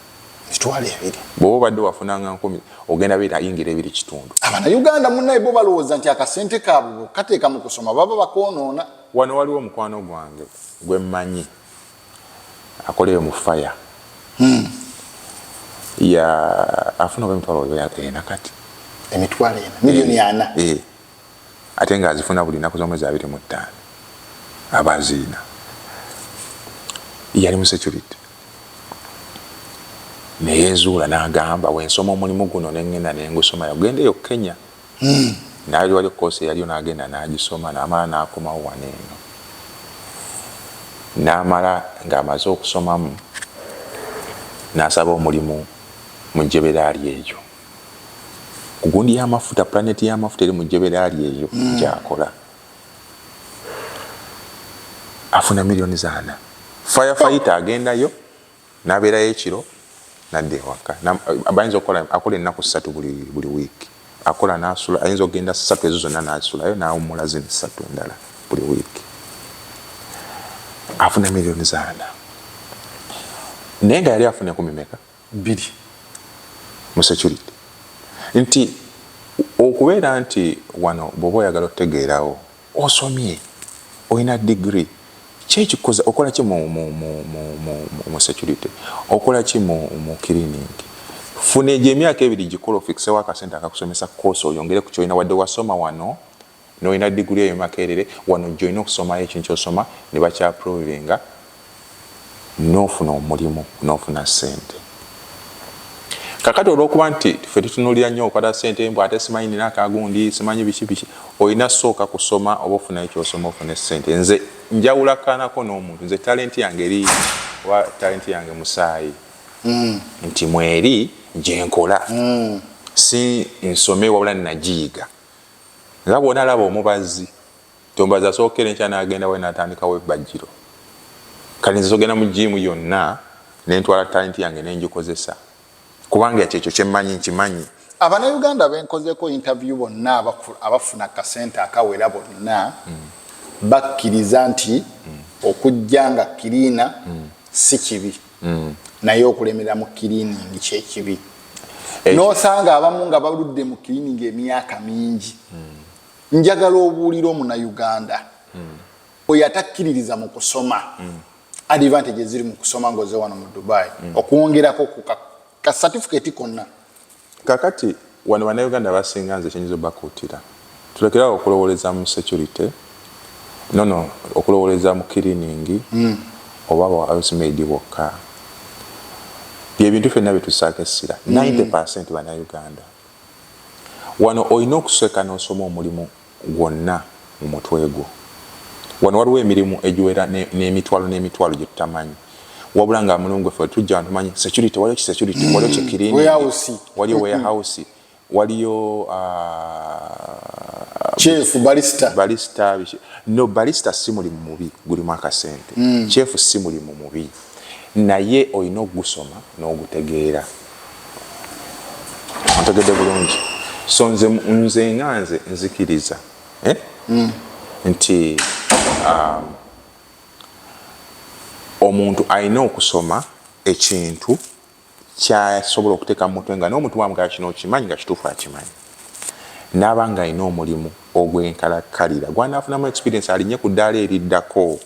mitwalo ebiri bwoba obadde wafunanga nkumi ogenda beera yingira ebiri kitundu abana uganda munaye bo balowooza nti akasente kabwe kateeka mu kusoma baba bakoonoona wano waliwo omukwano gwange gwe mmanyi akoleyo mu faya hmm. ya afuna oba emitwalo ena kati emitwalo ena miliyoni ana eh. ate ng'azifuna buli nnaku z'omwezi abiri mu ttaano aba azirina yali musecurity neyenzuula n'agamba wensoma omulimu guno nengenda nengusoma yagenda eyo kenya hmm. naye wali okukoosa eyaliyo n'agenda n'agisoma n'amala n'akomawo wano eno n'amala ng'amaze okusomamu n'asaba omulimu mu jeberaali eyo Gundi y'amafuta, pulaneeti y'amafuta eri mu jjebera lye eyo hmm. gy'akola. Afuna miliyoni zaana. Firefayita agendayo n'abeerayo ekiro n'adda ewaka. Bayinza okukola akola ennaku ssatu buli buli wiiki. Akola n'asula, ayinza okugenda ssatu ezo zonna n'asulayo n'awummula zino ssatu endala buli wiiki. Afuna miliyoni zaana. Naye nga yali afuna enkumi meka? bbiri mu security nti okubeera nti wano bwoba oyagala otegeerawo osomye olina digiri kyekikuza okolaki mu security okolaki mu cleaning funa egyo emyaka ebiri gikole ofikisewo akasente akakusomesa course oyongere ku kyolina wadde wasoma wano Nolina degree eyo makerere wano joyina okusomayo ekintu kyosoma nebakya provinga nofuna omulimu nofuna sente kakati olwokuba nti fe tutunulira nyo okwata sente mbu ate simanyi nina akagundi simanyi biki biki olina sooka kusoma oba ofunayo kyosoma ofune sente nze njawula kanako nomuntu nze talenti yange eri oba talenti yange musaayi mm. nti mweri gyenkola mm. si nsome wabula nagiyiga Nga bwona laba omubazzi tombazi asooka eri enkya nagenda wali natandikawo ebbajjiro kale nze sogenda mu jiimu yonna nentwala talenti yange nenjikozesa kubanga kyekyo kyemmanyi nkimanyi Abanauganda benkozeko interview bonna abafuna kasente akawera bonna bakkiriza nti okujja nga cleaner si kibi. mm. naye okulemera mu kiliningi kyekibi eh. nosanga abamu nga baludde mu kiliningi emyaka mingi mm. njagala obuulira omuna uganda mm. oyo atakkiririza mu kusoma mm. advantage eziri mu kusoma ngaoze wano mu dubai mm. okwongerako ku kasatifiketi konna Kakati wano banauganda abasinga nze kyenyinza obakuutira tulekere awo okulowoleza mu security nono okulowoleza mu kiriningi mm. oba ba house maid bokka byebintu fenna byetusaako essira mm. 90 percent banauganda wano olina okusweka nosoma omulimu gwonna mu mutwe gwo. Wano waliwo emirimu egiwera n'emitwalo n'emitwalo gye tutamanyi. Wabula nga mulongo ffe tujja wano tumanyi security, waliyo ki security, waliyo ki cleaning, waliyo warehouse, waliyo chef ah, balista balista no balista si mulimu mubi gulimu akasente. Mm. Chef si mulimu mubi. naye olina okugusoma n'ogutegeera. Ontegedde bulungi? So nze, nze nga nze nzikiriza eh? mm. nti um, omuntu alina okusoma ekintu kyasobola okuteeka mu mutwe nga n'omuntu wamugala kino okimanyi nga kituufu akimanyi n'aba nga alina omulimu ogw'enkalakkalira gw'anaafunamu experience alinye ku ddaala eriddako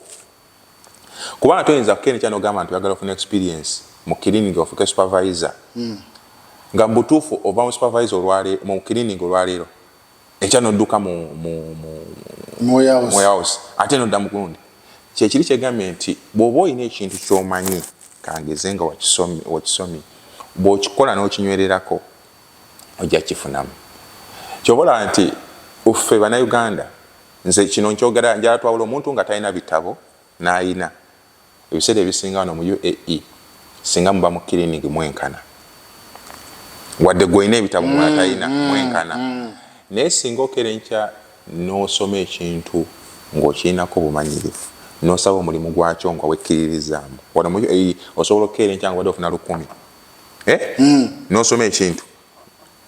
kubanga toyinza kukendeca nogamba nti oyagala ofuna experience mu cleaning ofuke supervisor mm. nga mubutuufu ova mu supervisor olwaleero mu cleaning olwaleero enkya nodduka mu moyahouse ate nodda mukulundi kyekiri kyegambye nti bwoba olina ekintu kyomanyi kangeze nga wakisomye bwokikola nokinywererako ojja kifunamu kyobola nti ffe banauganda Nze kino nkyogera njala twawula omuntu nga talina bitabo n'ayina. Ebiseera ebisinga wano mu UAE singa muba mu kilinig mwenkana. Wadde gwe olina ebitabo mula mm, talina mm, mwenkana. Mm. Naye singa okera enkya n'osoma ekintu ng'okirinako bumanyirivu n'osaba omulimu gwakyo nga wekkiririzaamu. Wano mu UAE osobola okukeera enkya nga obadde ofuna lukumi. Eh? N'osoma ekintu.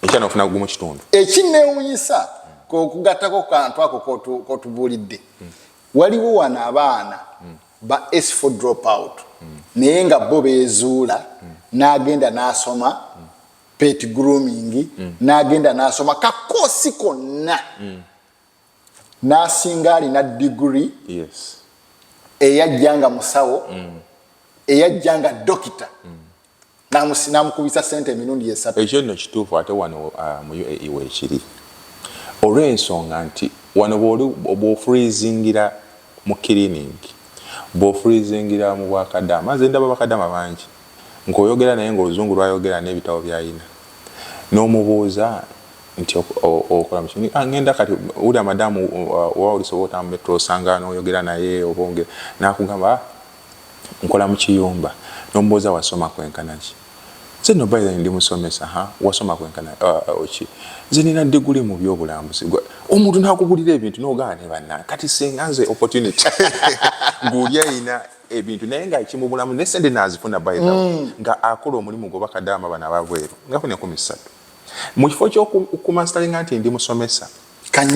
ekyana ofuna gumu kitundu ekinewunyisa kokugattako kantu ako kotubuulidde waliwo wano abaana ba s4 drop out naye nga bo bezuula n'agenda n'asoma pet grooming n'agenda n'asoma kakoosi konna n'asinga alina diguri eyajja nga musawo eyajja nga dokita namukubisa sente emirundi esatu. Ekyo nno kituufu ate wano uh, mu UAE weekiri olw'ensonga nti wano bw'ofurizingira mu kiriningi bw'ofurizingira mu bwakadaama nze ndaba bakadaama bangi ng'oyogera naye ng'oluzungu lwayogera n'ebitabo byayina n'omubuuza nti okola mu kiriningi ah, ngenda kati wulira madamu uh, oba olisobola otambula osanga n'oyogera naye obonge n'akugamba ah, Nkola mu kiyumba. N'omubuuza wasoma kwenkana ki? Nze nno by the way ndi musomesa. Ha, wasoma kwenkana uh, uh, ki? Nze nina ddiguli mu by'obulambuzi. Omuntu n'akubulira ebintu n'ogaana ne bannange. Kati singa nze opportunity ng'oli alina ebintu naye nga kimubulamu ne sente nazifuna by the way mm. nga akola omulimu gwe bakadaama bano ababweru ngafuna enkumi ssatu mu kifo ky'okumansitalinga nti ndi musomesa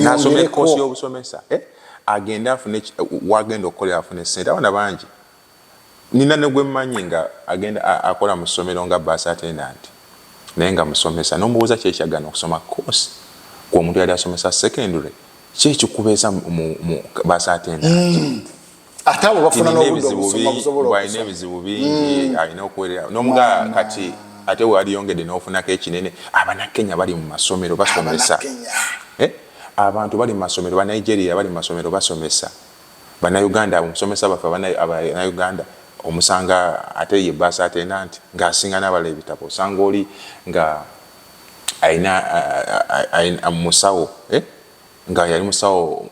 nasoma ekoosi y'obusomesa eh? agende afune wagenda okukolera afune sente abaana bangi nina negwemmanyi nga agenda akola mu ssomero nga bus attendant naye nga musomesa nomubuuza kyekyagana okusoma course gwe omuntu yali asomesa secondary kyekikubeeza mu bus attendant mm. ate abo bafuna n'obudde obusoma busobola okusoma ebizibu bingi mm. alina okuwerera n'omugaa kati ate waliyongedde n'ofunako ekinene abanakenya bali mu masomero basomesa eh? abantu bali mu masomero banigeria bali mu masomero basomesa banauganda omusomesa baffe abanauganda omusanga ate ye basa atenda nti ng'asinga n'abala ebitabo osanga oli nga alina musawo eh? nga yali musawo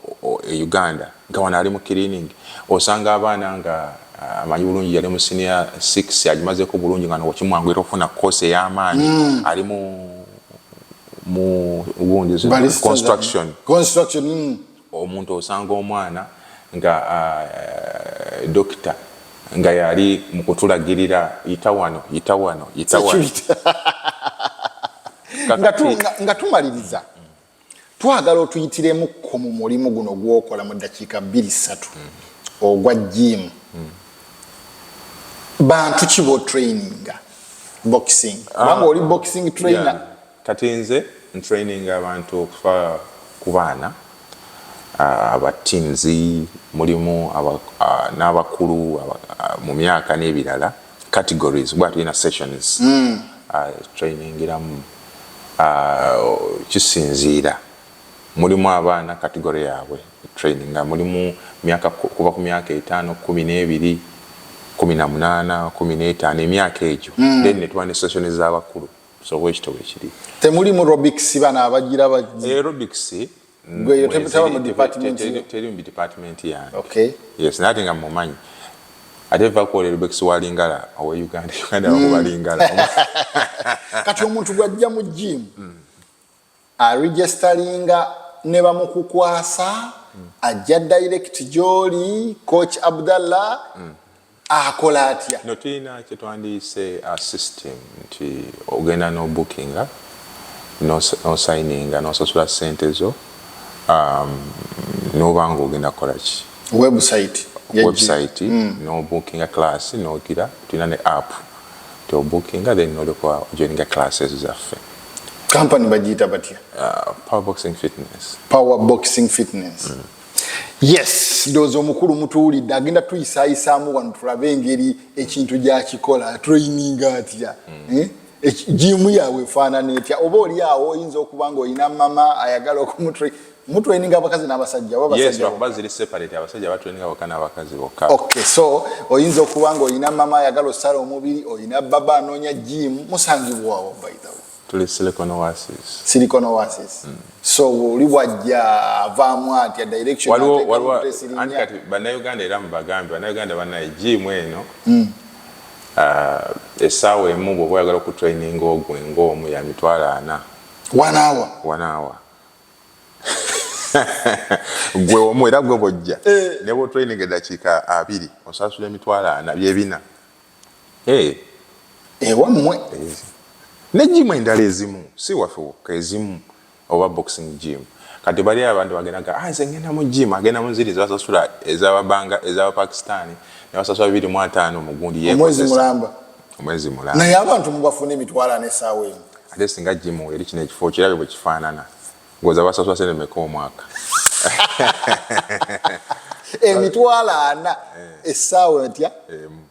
e Uganda nga wano ali mu cleaning osanga abaana nga ah, amanyi bulungi yali mu senior 6 agimazeko bulungi nga nokimwanguyira okufuna course ey'amaanyi mm. ali mu mu gundi construction construction mm. omuntu osanga omwana nga ah, eh, dokita nga yali mu kutulagirira yita wano yita wano yita wano nga tumaliriza twagala otuyitiremuko mu mulimu guno gwokola mu ddakiika bbiri ssatu ogwa jiimu bantu ki botraininga boxing kubanga ah. oli boxing trainer kati nze ntraining abantu okufa ku baana ah, aba teams mulimu ah, n'abakulu mu myaka n'ebirala categories kuba tulina sessions mm. uh, trainingiramu uh, kisinziira mulimu abaana category yaabwe training nga mulimu myaka kuva ku myaka etaano kumi n'ebiri kumi na munaana kumi n'etaano emyaka egyo mm. then netuba ne session z'abakulu so bwekito bwekiri temulimu robics bana abagira bagira eh, robics gweyo tebutaba mu department teri mu department yange okay yes nati nga mumanyi ate va ku olero bekisi wa lingala owe uganda uganda mm. wakuba lingala kati omuntu gwajja mu gym mm. aregisteringa ne bamukukwasa mm. ajja direct gyoli coach abdallah mm. akola atya no tulina kyetwandiyise a system nti ogenda nobukinga nosayininga nosasula sente zo um, noba nga ogenda kukolaki website website mm. nobukinga class nogira tulina ne app tiobukinga then nolekwa ojoininga classes zaffe company bagiyita batya uh, power boxing fitness power boxing fitness mm. yes ndowooza omukulu mutuwulidde agenda tuyisaayisaamu wano tulabe engeri ekintu gyakikola traininga atya mm. eh? jiimu yaabwe efaanana etya oba oli awo oyinza okuba nga olina mama ayagala okumutr mutraininga abakazi n'abasajja obakuba ziri separate abasajja batraininga boka n'abakazi bokka ok so oyinza okuba nga olina mama ayagala osala omubiri olina baba anoonya jiimu musangibwawo by the way tuli silicon oasis silicon oasis mm. so oli bwajja avaamu atya direction waliwo waliwo anti kati bannayuganda era mubagambe bannayuganda banaye jiimu eno mm. uh, esaawa emu bwoba oyagala okutraininga ogwe ngaomu ya mitwalo ana wanaawa wanaawa gwe omu era gwe bojja eh. ne bwotraininga eddakiika abiri osasula emitwalo ana byebina eh ewammwe eh, ne jimu endala ezimu si waffe wokka ezimu oba boxing gym kati bali abantu bagendaga ah, nze ngenda mu gym agenda mu ziri zebasasula ezababanga ezabapakistani nebasasula bibiri mu ataano mugundi omwezi mulamba omwezi mulamba naye abantu mubafuna emitwalo ana esaawa emu ate singa gym eri kino ekifo kirabye bwekifaanana Ngoza basasula sene meka omwaka. Emitwalo ana eh. essaawa entya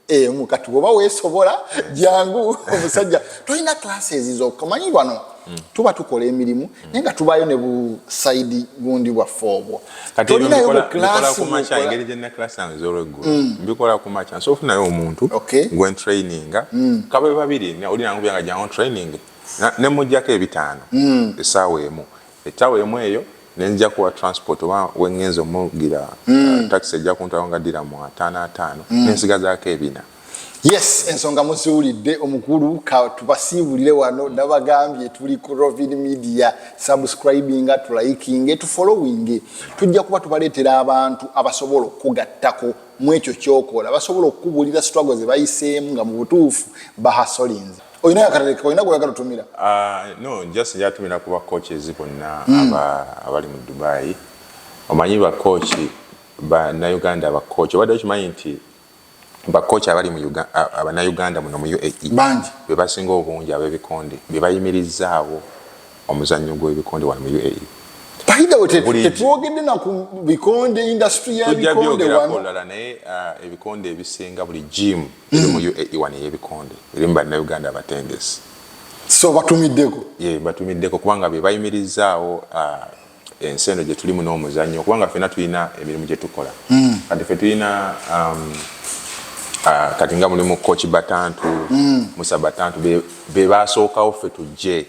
emu kati bwoba weesobola eh. jangu omusajja tolina classes zokka manyi wano hmm. tuba tukola emirimu hmm. naye nga tubaayo ne busaidi gundi bwaffe obwo tolinayo buklaengeri gyena class zange zolweggulo hmm. mbikola ku maca nsobola ofunayo omuntu gwentraininga kabe babiri oli nangu byanga jangu training ne mujjako ebitaano mm. esaawa emu ettawa emu eyo nenzija kuwa transport oba wengenza omugira mm. uh, taxi ejja kuntwala nga ddira mu ataano ataano mm. nensigazaako ebina yes ensonga muziwulidde omukulu katubasiibulire wano nabagambye tuli ku rovin media subscribinga tulayikinge tufollowinge tujja kuba tubaleetera abantu abasobola okukugattako mu ekyo kyokola basobola okukubuulira sitwago ze bayiseemu nga mu butuufu bahasolinze olina yakaleka olina gweyagala otumira ah, no just njatumira kuba coaches bonna hmm. abali mu dubai omanyi bakoki banauganda bakoki obadde okimanyi nti bakoki abali banauganda muno mu uae bangi bebasinga obungi abebikonde bebayimirizaawo omuzannyo gw'ebikonde wano mu uae tetwogedde naku bikonde industry yabikonde wano naye ah, ebikonde ebisinga buli jimu eri mu UAE wano ey'ebikonde eri mu Bannayuganda abatendesi so batumiddeko ye batumiddeko kubanga be bayimirizzaawo uh, ensi eno gye tulimu n'omuzannyo kubanga ffena tulina emirimu gye tukola mm. kati ffe tulina um, uh, kati nga mulimu koki batantu mm. musa batantu be baasookawo ffe tujje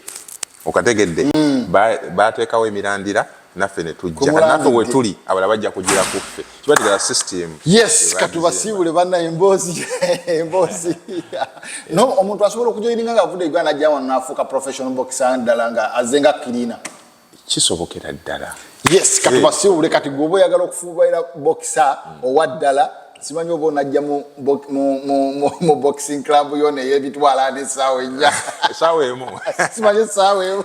okategedde mm. bateekawo ba emirandira naffe netujja naffe wetuli abala bajja kugira kuffe kibategera system yes katubasiibule banna emboozi emboozi no omuntu asobola okujoininga nga avude uganda ajja wano nafuuka professional boxer ddala nga azze nga kirina kisobokera ddala yes katubasiibule kati gwoba oyagala okufuubaira boxer owa ddala simanyi oba onajja mu boxing club yo neyebitwala nesaawa enya esaawa emu simanyi esaawa emu